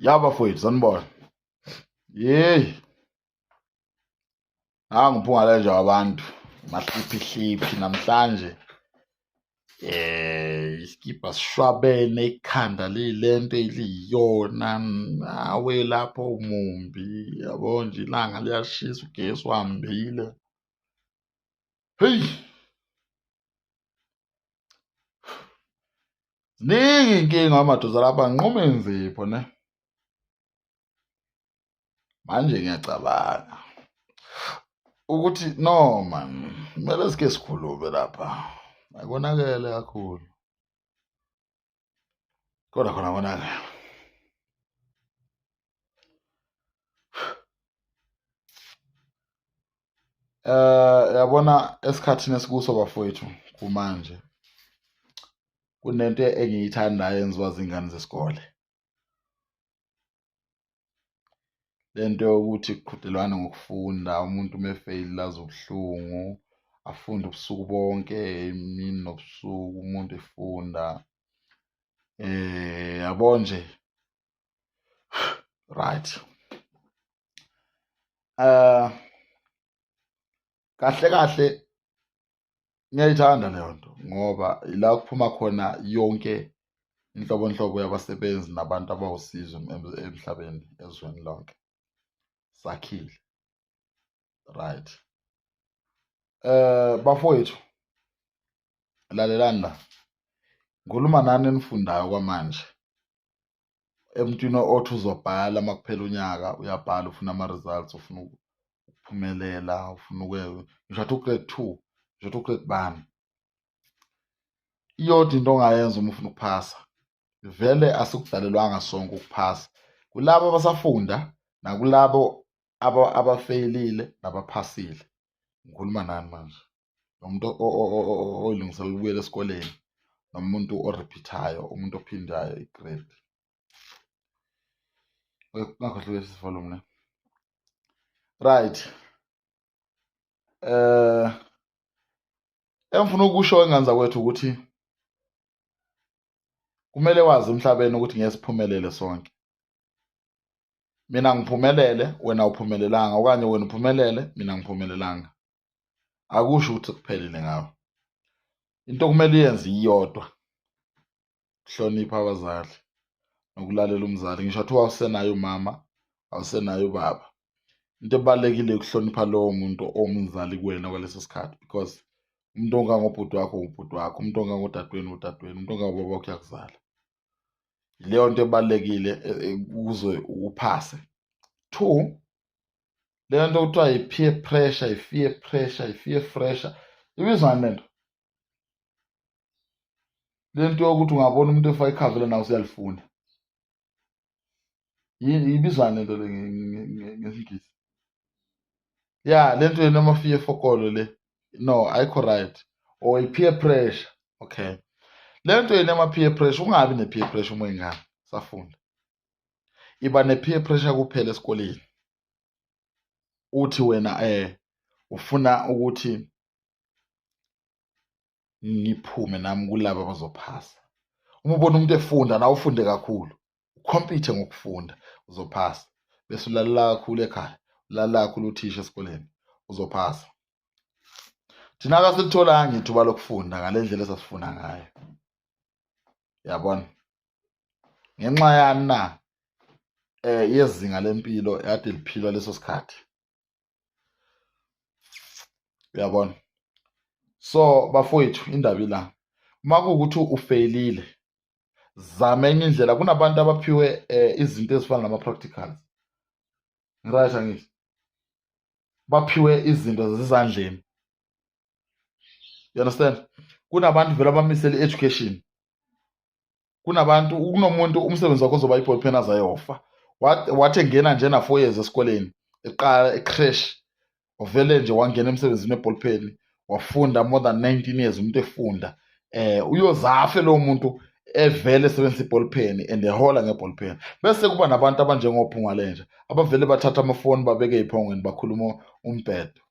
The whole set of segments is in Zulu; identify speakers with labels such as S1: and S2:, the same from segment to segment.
S1: ya bafowethu sanibona yeyi angiphungaleja wabantu mahliphihliphi namhlanje eh isikibha sishwabene ikhanda lilento eliyiyona nawe lapho umumbi yabo nje ilanga liyashisa ugesi uhambile heyi ziningi iy'nkinga amadoda lapha nquma inzipho ne manje ngiyacabanga ukuthi no man kumele sike sikhulume lapha akonakele kakhulu Kodwa khona konakala. Eh yabona esikhathini esikuso bafowethu kumanje kunento engiyithandayo enziwa zingane zesikole. lento yokuthi kuqhudelwane ngokufunda umuntu uma efeyili lazi ubuhlungu afunde ubusuku bonke imini nobusuku umuntu efunda eh yabo nje right uh kahle kahle ngiyayithanda leyo nto ngoba ila kuphuma khona yonke inhlobonhlobo yabasebenzi nabantu abawusizo emhlabeni ezweni lonke sakhile right eh bafowethu lalelani la ngikhuluma nani enifundayo kwamanje emntwini othi uzobhala uma kuphela unyaka uyabhala ufuna ama-results ufuna ukuphumelela ufuna uke ngisho athi ugrade two ngisho athi ugrade bani iyodwa into ongayenza uma ufuna ukuphasa vele asikudalelwanga sonke ukuphasa kulabo abasafunda nakulabo abafeyilile nabaphasile ngikhuluma nani manje nomuntu olungisela ukubuyela esikoleni nomuntu orepeatayo umuntu ophindayo igrade ungakhohlwe sifolo mna right eh engifuna ukusho enganza kwethu ukuthi kumele wazi emhlabeni ukuthi ngeke siphumelele sonke mina ngiphumelele wena uphumelelanga okanye wena uphumelele mina ngiphumelelanga akusho ukuthi kuphelile ngawo into okumele uyenze iyodwa hlonipha abazali nokulalela umzali ngisho athi wawusenayo umama awusenayo ubaba into ebalulekile ukuhlonipha lowo muntu owumzali kuwena kwaleso sikhathi because umuntu ongangobhuti wakho ubhuti wakho umuntu ongangodadewenu udadewenu umuntu ongangobaba wakho uyakuzala yileyo nto ebalulekile e, e, ukuze uphase two le nto kuthiwa yi-peer pressure yi-fear pressure yi-fear pressure ibizani le nto le nto yokuthi ungabona umuntu efaka ikhavela nawe usuyalifuna ibizani le nto le ngesingisi ya le nto yena amafiye fokolo le no ayikho right or i-peer pressure okay le nto yena ama-peer pressure ungabi ne-peer pressure uma ingane safunda iba ne-peer pressure kuphela esikoleni uthi wena eh ufuna ukuthi ngiphume nami kulaba abazophasa uma ubona umuntu efunda nawe ufunde kakhulu ukhompithe ngokufunda uzophasa bese ulalela kakhulu ekhaya ulalela kakhulu uthisha esikoleni uzophasa thina kasilitholanga ithuba lokufunda ngale ndlela esasifuna ngayo yabona ngenxa yani na eh yezinga lempilo yade liphilwa leso sikhathi uyabona so bafowethu indaba ila uma kuwukuthi ufeyilile zama enye indlela kunabantu abaphiwe eh, izinto ezifana nama-practicals right angithi baphiwe izinto zezandleni you understand kunabantu vele abamisele i-education kunabantu kunomuntu umsebenzi wakho ozoba i-ball pen azayofa wathi engena nje na-four years esikoleni eqala ecrash uvele nje wangena emsebenzini we-ball pen wafunda more than 19 years umuntu efunda eh uyozafe lo muntu evele esebenzisa i-ball pen and ehola nge-ball pen bese kuba nabantu abanjengophungwale nje abavele bathatha amafoni babeke ey'phongweni bakhuluma umbhedo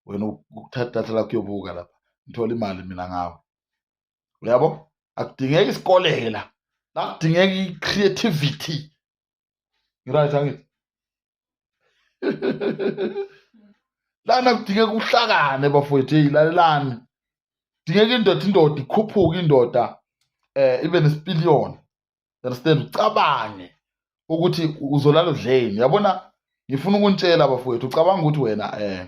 S1: wena ukuthatha idatha lakho uyobuka lapha ngithole imali mina ngawe uyabo akudingeki isikoleke la la kudingeka i-creativity ngiright angithi lana kudingeka uhlakane bafowethu eyi lalelani kudingeka indoda indoda ikhuphuke indoda eh ibe nesipiliyoni understand ucabange ukuthi uzolala udleni yabona ngifuna ukunitshela bafowethu ucabanga ukuthi wena eh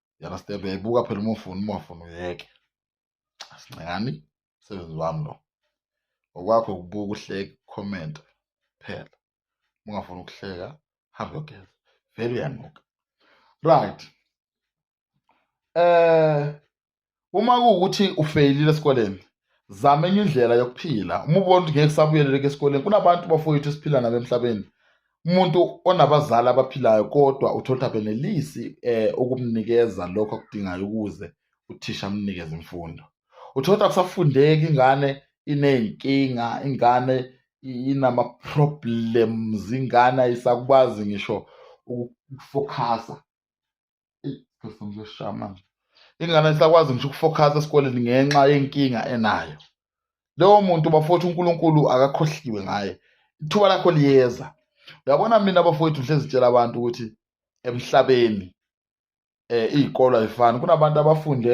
S1: you understand uyayibuka phela uma ufuna uma ufuna uyeke asincengani msebenzi wami lo okwakho ukubuka uhleke comment phela ungafuni ukuhleka hambe yogeza vele uyanuka right eh uma kuwukuthi ufeyilile esikoleni zama enye indlela yokuphila uma ubona ukuthi ngeke kusabuyeleleka esikoleni kunabantu bafowethu esiphila nabo emhlabeni umuntu onabazali abaphilayo kodwa uthole ukuthi abenelisi eh ukumnikeza lokho akudingayo ukuze uthisha amnikeze imfundo uthole ukuthi akusafundeki ingane iney'nkinga ingane inama-problems ingane ayisakwazi ngisho ukufokhasa ngizosha manje ingane isakwazi ngisho ukufokhasa esikoleni ngenxa yenkinga enayo lowo muntu bafowethu uNkulunkulu akakhohliwe ngaye ithuba lakho liyeza uyabona mina bafowethu ngihlezi tshela abantu ukuthi emhlabeni eh izikolo ayifani kunabantu abafunde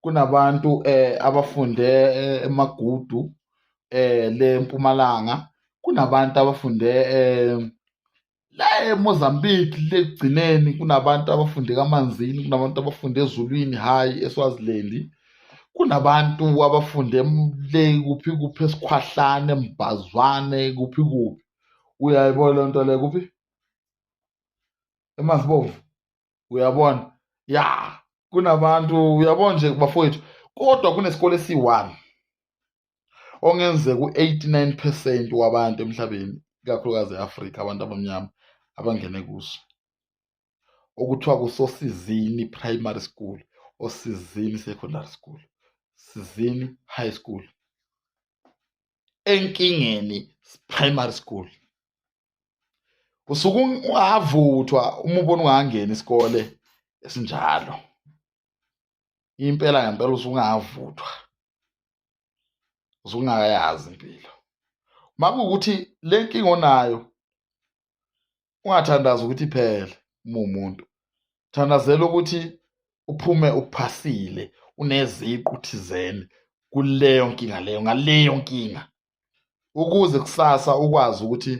S1: kunabantu eh abafunde eh, emagudu eh le mpumalanga kunabantu abafunde eh la eMozambique legcineni kunabantu abafunde kaManzini kunabantu abafunde eZulwini hhayi eSwaziland kunabantu abafunde le kuphi kuphi esikhwahlane mbhazwane kuphi kuphi uyayibona lento le kuphi eMazibovu uyabona ya kunabantu uyabona nje bafowethu kodwa kunesikole esiyi-one ongenzeka u-89 percent wabantu emhlabeni ikakhulukazi e-afrika abantu abamnyama abangene kuso okuthiwa kusosizini primary school osizini secondary school sizini high school enkingeni primary school usuke ungavuthwa uma ubona ungangeni isikole esinjalo impela ngempela usuke ungavuthwa usuke ungayazi impilo uma kuwukuthi le nkinga onayo ungathandazi ukuthi iphele uma umuntu thandazela ukuthi uphume uphasile uneziqu thizeni kuleyo nkinga leyo ngaleyo nkinga ukuze kusasa ukwazi ukuthi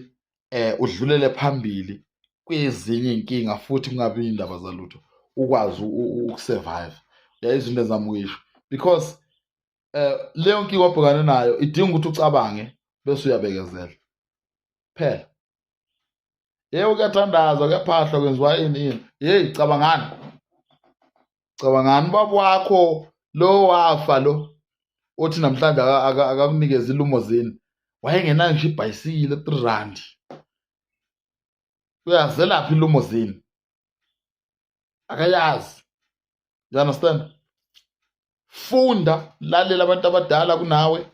S1: eh udlulele phambili kwezinye inkinga futhi kungabi indaba zalutho ukwazi ukusurvive yeah izinto ezamukisho because eh leyo nkinga obhekane nayo idinga ukuthi ucabange bese uyabekezela phela yewu kuyathandazwa kuyaphahlwa kwenziwa ini ini yeyi cabangani cabangani ubaba wakho lo wafa lo othi namhlanje akakunikeza ilumo zini wayengenayo nje ibhayisikile three rand uyazelaphi ilumo zini akayazi you understand funda lalela abantu abadala kunawe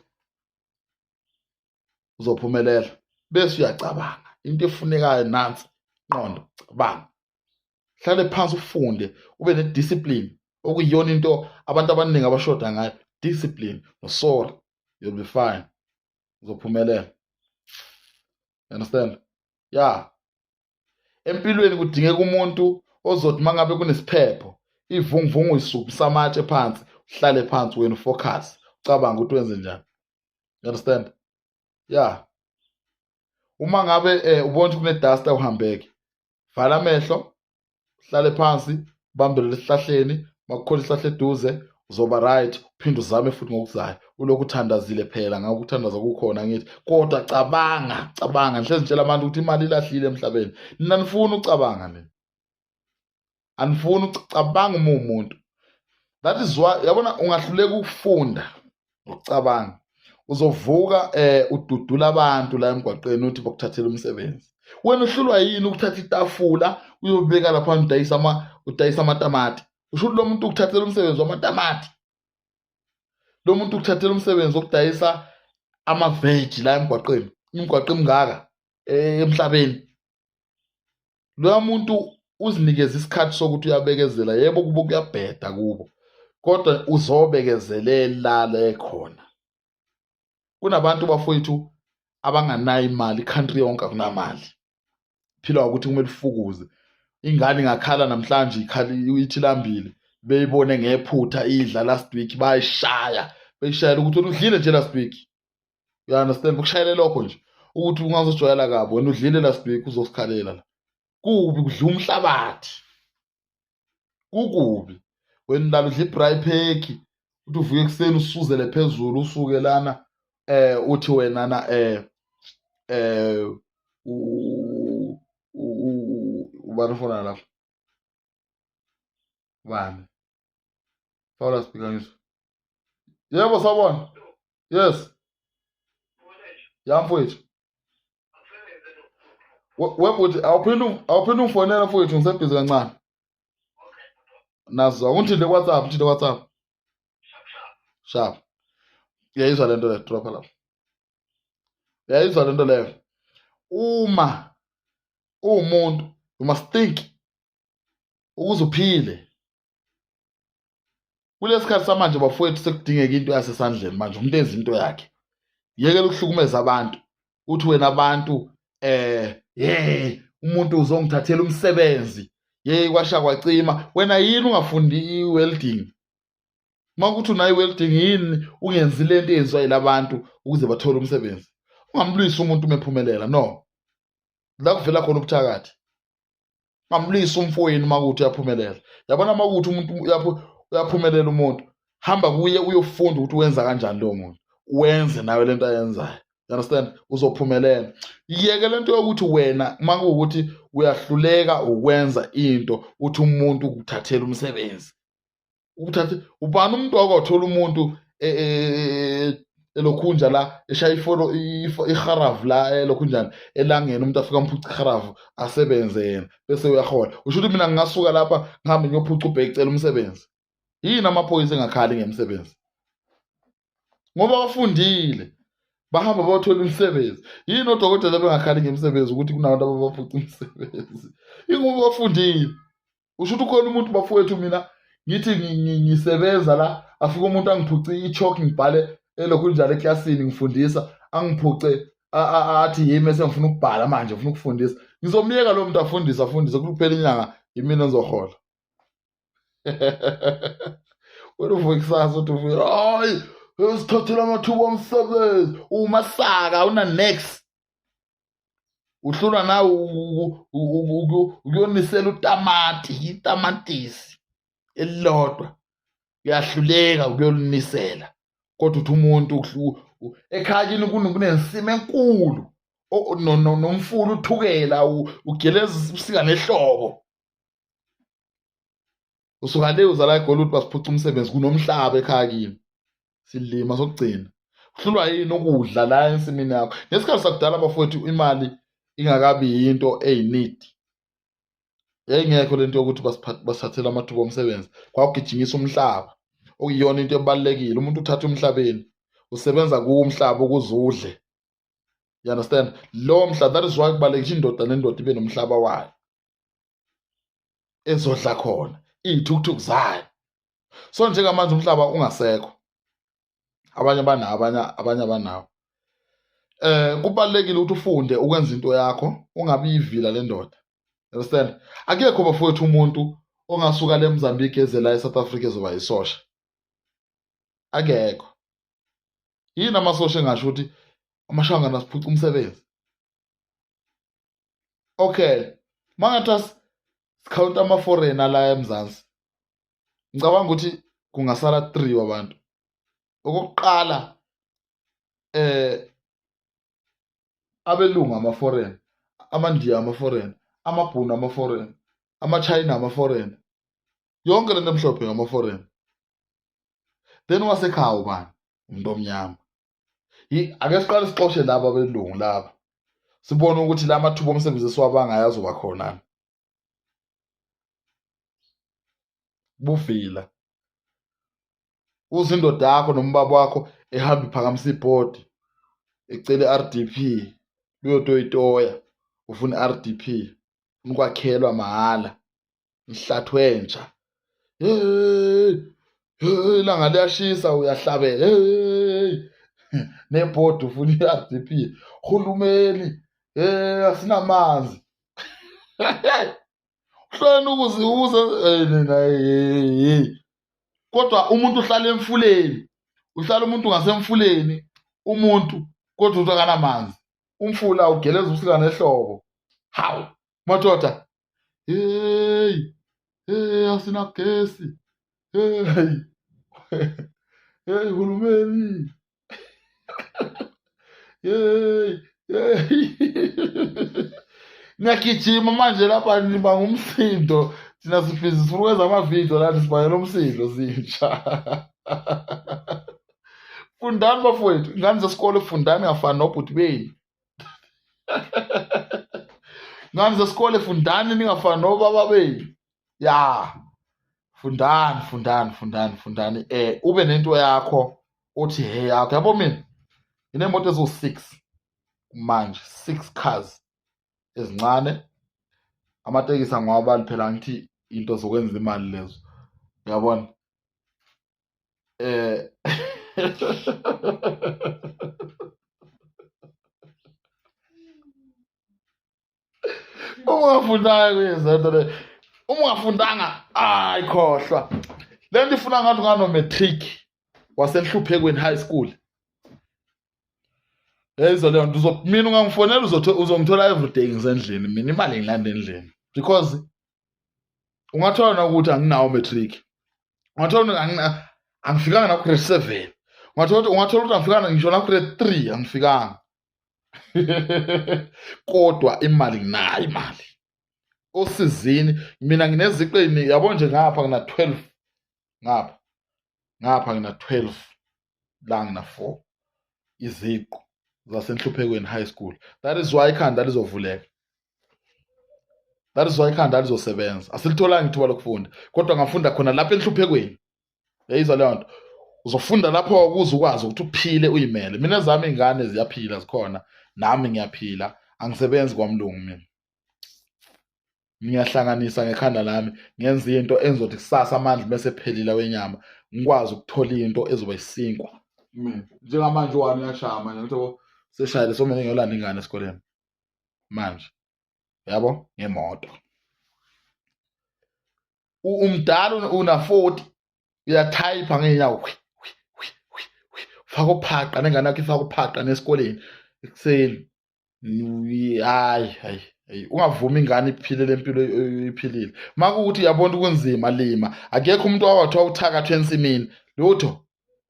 S1: uzophumelela bese uyacabanga into efunekayo nansi qondo cabanga hlale phansi ufunde ube nediscipline okuyiyona into abantu abaningi abashoda ngayo discipline nosora you'll be fine uzophumelela understand ya empilweni kudingeka umuntu ozothi mangabe kunesiphepho ivunguvungu isuphi samatshe phansi uhlale phansi wena ufocus ucabanga ukuthi wenze njani you understand yeah uma ngabe eh, ubona ukuthi kuneduster uhambeke vala amehlo hlale phansi bambele lesihlahleni makukhona isihlahla eduze uzoba right uphinde uzame futhi ngokuzayo ulokhu uthandazile phela ngakho ukuthandaza kukhona ngithi kodwa cabanga cabanga ngihlezi ngitshela abantu ukuthi imali ilahlile emhlabeni nina nifuna ucabanga nini anifuni ukucabanga uma umuntu that is why yabona ungahluleka ukufunda ukucabanga uzovuka eh ududula abantu la emgwaqeni uthi bokuthathela umsebenzi wena uhlulwa yini ukuthatha itafula uyobeka lapha udayisa ama udayisa amatamati usho ukuthi lo muntu ukuthathela umsebenzi wamatamati lo muntu ukuthathela umsebenzi wokudayisa amaveji la emgwaqeni imigwaqo emingaka eh, emhlabeni loya muntu uzinikeza isikhathi sokuthi uyabekezela yebo kubo kuyabheda kubo kodwa uzobekezelela le khona kunabantu bafowethu abanganayo imali country yonke akunamali phila ukuthi kumele ufukuze ingane ingakhala namhlanje ikhala ithi lambile beyibone ngephutha idla last week bayishaya beyishayela ukuthi udlile nje last week you understand ukushayela lokho nje ukuthi ungazojwayela kabi wena udlile la sibheki uzosikhalela la kubi kudla umhlabathi kukubi wena lalo udla ibry phekhi uthi uvuke ekuseni usuzele phezulu usuke lana eh uthi wena na eh eh ubani ufona lapho bani Sawula speaker ngizwa. Yebo sawbona. Yes. Yamfowethu. Webhuti awuphinde awuphinde ungifonela mfowethu ngisebhizi kancane. Nazo ungithinte WhatsApp, ngithinte WhatsApp. Sharp sharp. Sharp. Yayizwa lento le drop lapho. Yayizwa lento leyo. Uma uwumuntu you must think ukuze uphile kulesikhathi samanje bafowethu sekudingeka into yasesandleni manje umuntu enza into yakhe yekela ukuhlukumeza abantu uthi wena abantu eh hey umuntu uzongithathela umsebenzi yeyi kwasha kwacima wena yini ungafundi i-welding uma kuthi unayo i-welding yini ungenzi le nto eyenziwa yila bantu ukuze bathole umsebenzi ungamlwisi umuntu umephumelela no la kuvela khona ubuthakathi ngamlisa umfowenu makuthi uyaphumelela yabona makuthi umuntu uyaphumelela umuntu hamba kuye uyofunda ukuthi wenza kanjani lowo muntu wenze nawe lento ayenzayo you understand uzophumelela yeke lento yokuthi wena uma kuwukuthi uyahluleka ukwenza into uthi umuntu ukuthathela umsebenzi ukuthatha ubani umuntu wakwathola umuntu e, e, e, elokhunja la eshaya ifolo iharavu la elokhunjani elangeni umuntu afika mphuca iharavu asebenze yena bese uyahola usho ukuthi mina ngingasuka lapha ngihambe ngiyophuca ubheki cela umsebenzi yini amaphoyisa engakhali ngemisebenzi ngoba bafundile bahamba bayothola imisebenzi yini odokotela bengakhali ngemisebenzi ukuthi kunabantu ababaphuca imisebenzi ingoba bafundile usho ukuthi ukhona umuntu bafowethu mina ngithi ngisebenza la afike umuntu angiphuce i-chalk ngibhale elokhu njalo eklasini ngifundisa angiphuce athi yimi esengifuna ukubhala manje ngifuna ukufundisa ngizomyeka lo muntu afundise afundise kuphela inyanga yimina engizohola wena uvuka ikusasa uthi uvuke hayi usithathela amathuba omsebenzi umasaka una-next uhlulwa nawe ukuyonisela utamati itamatisi elilodwa uyahluleka ukuyolunisela kodwa uthi umuntu ekhaya kini kunensima enkulu nomfula uthukela ugeleza ubusika nehlobo usuka le uzala egoli ukuthi basiphuca umsebenzi kunomhlaba ekhaya kini silima sokugcina uhlulwa yini ukudla la ensimini yakho ngesikhathi sakudala bafowethu imali ingakabi yinto eyinidi yayingekho lento yokuthi basithathele amathuba omsebenzi kwawugijinyisa umhlaba okuyiyona into ebalulekile umuntu uthatha umhlabeni usebenza kuwo umhlaba ukuze udle you understand lowo mhlaba that is why kubalulekile indoda nendoda ibe nomhlaba wayo ezodla khona iy'thukuthuku zayo so njengamanje umhlaba ungasekho abanye banawo abanye abanye abanawo eh kubalekile ukuthi ufunde ukwenza into yakho ungabi yivila lendoda understand akekho bafowethu umuntu ongasuka le Mozambique ezela eSouth Africa ezoba isosha akekho yini amasosha engasho ukuthi amashangana siphuca umsebenzi okay mangatha sikhawunta ama-foreigner la emzansi ngicabanga ukuthi kungasala three wabantu okokuqala eh abelungu ama-foreign amandiya ama-foreign amabhunu ama-foreign amachina ama-foreign yonke lento emhlophe ngama-foreign then wasekhaya ubani umuntu omnyama ake siqale sixoshe laba belungu laba sibone ukuthi la mathuba omsebenzi esiwabangayo azoba khona buvila uze indoda yakho nombaba wakho ehamba iphakamisa ibhodi ecele RDP uyotoyitoya ufuna RDP ukwakhelwa mahhala mhlathwenja hey hey langa liyashisa uyahlabela hey nebhodi ufuna i-RDP hulumeni hey asinamanzi uhloni ukuziwuza hey nina hey kodwa umuntu uhlala emfuleni uhlala umuntu ngasemfuleni umuntu kodwa uthi akanamanzi umfula ugeleza ubusika nehlobo hawu madoda heyi heyi asinagesi heyi heyi hulumeni heyi heyi niyagijima manje lapha niba ngumsindo thina sibhizi sifuna ukwenza amavidiyo lani sibangela umsindo zintsha fundani bafowethu ingane zesikole fundani ngafani nobhuti beni ngani zesikole fundani ningafani nobaba benu ya fundani fundani fundani fundani eh ube nento yakho uthi he yakho yabo mina nginemoto eziwu-six manje six cars ezincane amatekisi angwabali phela ngithi into zokwenza imali lezo uyabona É... ungafundanga kuyizento le uma ungafundanga ayi khohlwa le nto ifuna ngathi unganomatric wasenhluphekweni high school eyizo leyo nto mina ungangifonela uzongithola everyday ngisendlini mina imali ngilanda endlini because ungathola na ukuthi anginawo matric ungathola angifikanga na grade seven ungathola ukuthi ungathola ukuthi angifikanga ngisho na grade three angifikanga kodwa imali nginayo imali osizini mina ngineziqu yabo nje ngapha ngina 12 ngapha ngapha ngina 12 langa for iziqu zasenhluphekweni high school that is why ikhanda lizovuleka that is why ikhanda lizosebenza asilitholanga ithuba lokufunda kodwa ngafunda khona lapha enhluphekweni yayizwa leyo nto uzofunda lapho ukuze ukwazi ukuthi uphile uyimele mina zami ingane ziyaphila zikhona nami ngiyaphila angisebenzi kwamlungu mina ngiyahlanganisa ngekhanda lami ngenza into engizothi kusasa amandla bese phelile wenyama ngikwazi ukuthola into ezoba isinkwa njengamanje wami uyashaya manje ngitho seshayile somele ngiyolanda ingane esikoleni manje yabo ngemoto umdala una 40 uyathayipha ngeenyawo faka uphaqa nengane yakho ifaka uphaqa nesikoleni ekuseni hayi hayi hayi ungavumi ingane iphile lempilo iphilile makuthi yabona kunzima lima akekho umuntu owathiwa uthakathwe ensimini lutho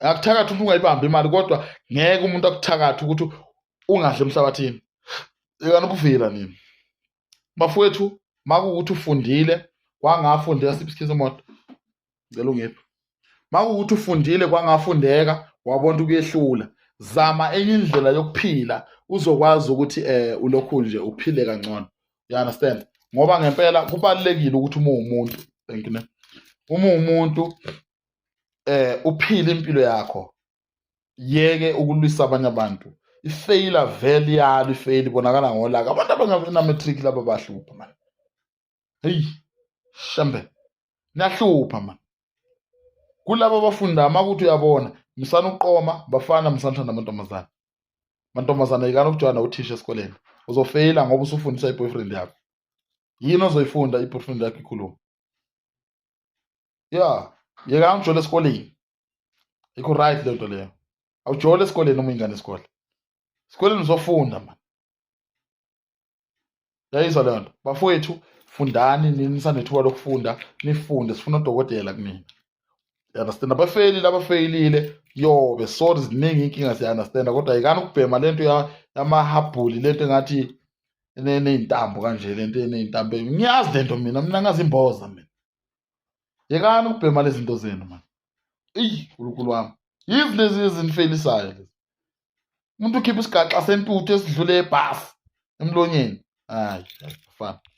S1: akuthakathi umuntu ungayibambi imali kodwa ngeke umuntu akuthakathi ukuthi ungadli emhlabathini yekani ukuvila nini bafowethu makuwukuthi ufundile kwangafundeka siphi isikhizo moto ngicela ungiphi makuwukuthi ufundile kwangafundeka wabona ukuyehlula zama enye indlela yokuphila uzokwazi ukuthi eh ulokhu nje uphile kangcono you understand ngoba ngempela kubalekile ukuthi uma umuntu thank you uma umuntu eh uphile impilo yakho yeke ukulwisa abanye abantu ifeyila vele yalo ifeyila ibonakala ngolaka abantu abangenamatric laba bahlupha mani heyi shembe niyahlupha mani kulaba abafunda amakuthi uyabona musani ukuqoma bafana musani thanda amantombazane mantombazane yikani ukujwana uthisha esikoleni uzofeyila ngoba usufundisa i-boyfriend yakho yini ozoyifunda i-boyfriend yakho ikhuluma ya yekani ujole esikoleni yikho right leyo nto leyo awujole esikoleni uma ingane isikole esikoleni uzofunda mani yayizwa leyo nto bafowethu fundani nini nisanethuba lokufunda nifunde sifuna odokotela kunina understand abafeyilile abafeyilile yobe sorry ziningi inkinga siya-understanda kodwa yikani ukubhema le nto yamahabhuli le nto engathi eney'ntambo kanje le nto eney'ntambo ngiyazi le nto mina mina ngazi imboza mina yekani ukubhema lezi zinto zenu mani eyi nkulunkulu wami yizi lezi ezinifelisayo lezi umuntu ukhipha isigaxa sentuthu esidlule ebhasi emlonyeni hayi fana